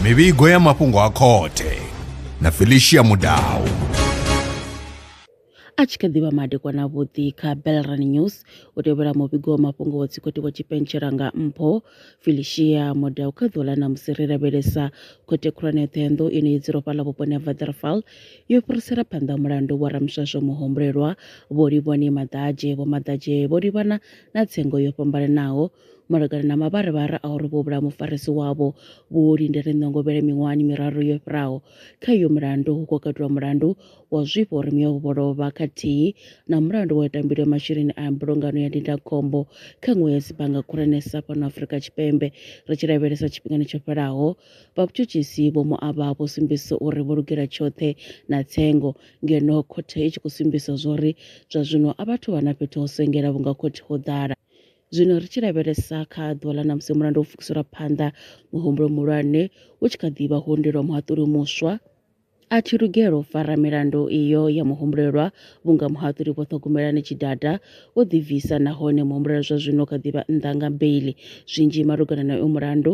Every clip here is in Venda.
mivhigo ya mafhungo a khothe na felicia mudau a tshi kha ḓivha madekwana vhuḓi kha belran news u tevhela muvhigo wa mafhungo wa dzikhothe wa tshipentshela nga mpho felicia modau kha ḓuvha ḽa namusi ri lavhelesa khothe khulwane ya ṱhoyandou ine i dzula fhaḽa vhuponi ha vaderfal yo fhirisela phanḓa mulandu wa ramswaswo muhumbulelwa vho livhoni maḓadzhe vho maḓadzhe vho livhana na tsengo yo fhambananaho malugana na mavharivhari a uri vho vhulaha mufarisi wavho vho lindele ṋongovhele miṅwahani miraru yo fhiraho. Kha iyo mulandu hu khou katelwa mulandu wa zwifha uri mme wavho vho lovha khathihi na mulandu wa u ita mbilo ya masheleni a mbulungano ya ndindakhombo kha nwe ya dzibannga khulwanesa fhano Afrika Tshipembe. Ri tshi lavhelesa tshifhingani tsho fhelaho, vha vhutshutshisi vho Moaba vho sumbedzisa uri vho lugela tshoṱhe na tsengo Ngeno khothe i tshi khou sumbisa zwauri zwa zwino a vhathu vha na fhethu ho sengela vhunga khothe ho ḓala. Zwino ri tshi lavhelesa kha ḓuvha ḽa ṋamusi mulandu wo pfukiselwa phanḓa, muhumbulo muhulwane u tshi kha ḓi vha hundi lwa muhaṱuli muswa a thi lugela u fara milandu iyo ya muhumbulelwa vhunga muhaṱuli vho ṱhogomelani tshidada wo ḓibvisa nahone muhumbulelwa zwa zwino kha ḓivha nnḓa nga beili zwinzhi malugana na uyo mulandu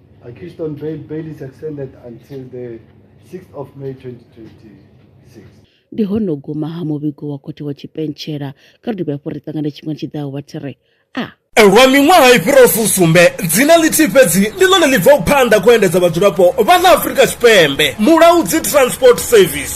I keep on bail. Bail is extended until the 6th of May 2026. ndi hono guma ha muvhigo wa khothe wa tshipentshela kha ri dovhe hafhu ri ṱangane tshifhingani tshi ḓaho vha thiri a lwa miṅwaha i fhiraho fusumbe dzina ḽithihi fhedzi ndi ḽone ḽi bvaho phanḓa khou endedza vhadzulapo vha ḽa afurika tshipembe mulaudzi transport service